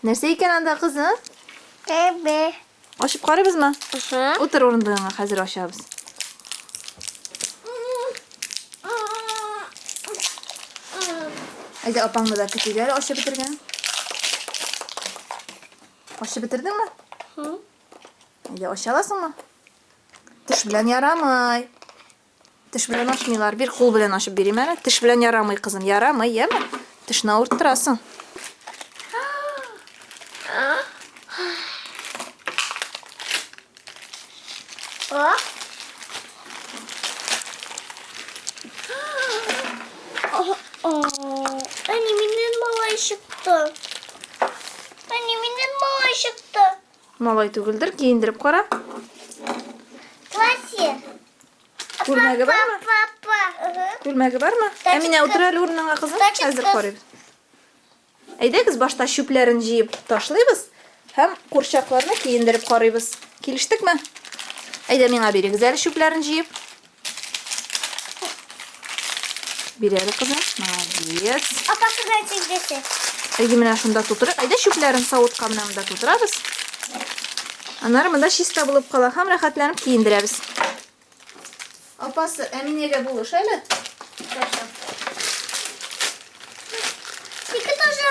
Нәрсә икән анда кызы? Әбе. Ачып карыйбызмы? Угу. Утыр урындыгыңа, хәзер ачабыз. Әйдә апаңны да көтик әле ачып бетергән. Ачып бетердеңме? Әйдә ача аласыңмы? Теш белән ярамый. Теш белән ачмыйлар. Бир кул белән ачып бирим әле. Теш белән ярамый, кызым. Ярамый, яме. Тешне авырттырасың. Әни, миннән малай чыкты. Әни, миннән малай чыкты. Малай түгелдер, киендереп кара. Платье. Күлмәге бармы? Папа. Күлмәге бармы? Әминә, утыр әле урыныңа, кызым. Хәзер карыйбыз. Әйдәгез, башта чүпләрен җыеп ташлыйбыз һәм курчакларны киендереп карыйбыз. Килештекме? Әйдә, миңа бирегез әле чүпләрен җыеп. Бирәле кызым. Молодец. Апа кызга тигдесе. Әйе, менә шунда тутырыйк. Әйдә чүпләрен савытка менә монда тутырабыз. Аннары монда чиста булып кала һәм рәхәтләнеп киендерәбез. Апасы, Әминәгә булыш әле. Хорошо. Тик тоже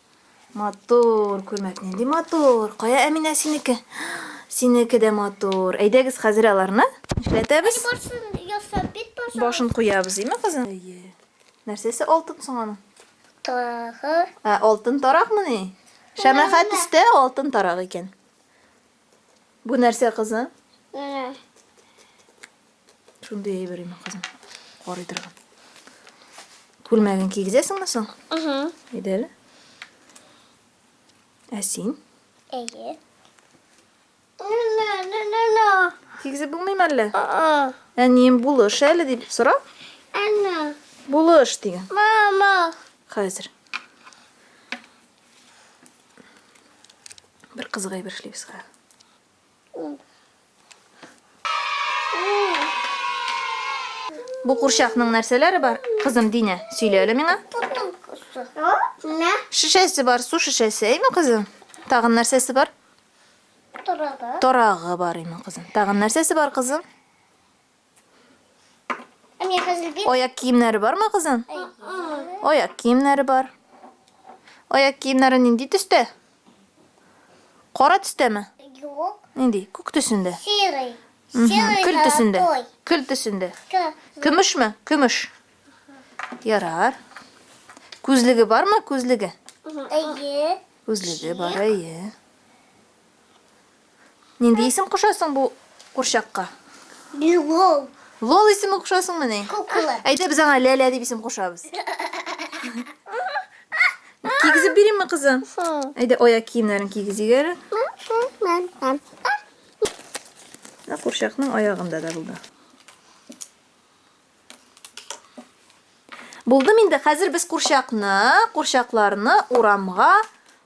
Матур, күлмәк нинди матур. Кая Әминә синеке? Синеке дә матур. Әйдәгез хәзер аларны эшләтәбез. Барсын ясап бит баша. Башын куябыз, име кызым? Әйе. Нәрсәсе алтын соң аның? Тарагы. Ә, алтын таракмыни? Шәмәхә төстә алтын тарак икән. Бу нәрсә кызы? Менә. Шундый әйбер име кызым? Карый торган. Күлмәген кигезәсеңме соң? Угу. Әйдә әле. Ә син? Әйе. Кигезеп булмыймы әллә? Әнием булыш әле дип сора. Әнә. Булыш дигән. Мама. Хәзер. Бер кызык әйбер эшлибез хәзер. Бу курчакның нәрсәләре бар? Кызым Динә, сөйлә әле миңа. Шешәсе бар, су шешәсе, әйме кызым? Тагын нәрсәсе бар? Торагы. Торагы бар, әйме кызым? Тагын нәрсәсе бар, кызым? Аяк киемнәре бармы, кызым? Аяк киемнәре бар. Аяк киемнәре нинди төстә? Кара төстәме? Юк. Нинди? Күк төсендә. Серый. Серый. Көл төсендә. Көл төсендә. Көмешме? Көмеш. Ярар. Күзлеге бармы? Күзлеге. Әйе. Күзлеге бар, әйе. Нинди исем кушасың бу курчакка? Лол. Лол исеме кушасыңмыни? Кукла. Әйдә без аңа Ләлә дип исем кушабыз. Кигезеп бирәме кызым? Әйдә аяк киемнәрен кигезик әле. Менә курчакның аягында да булды. Булдым инде. Хәзер без курчакны, курчакларны урамга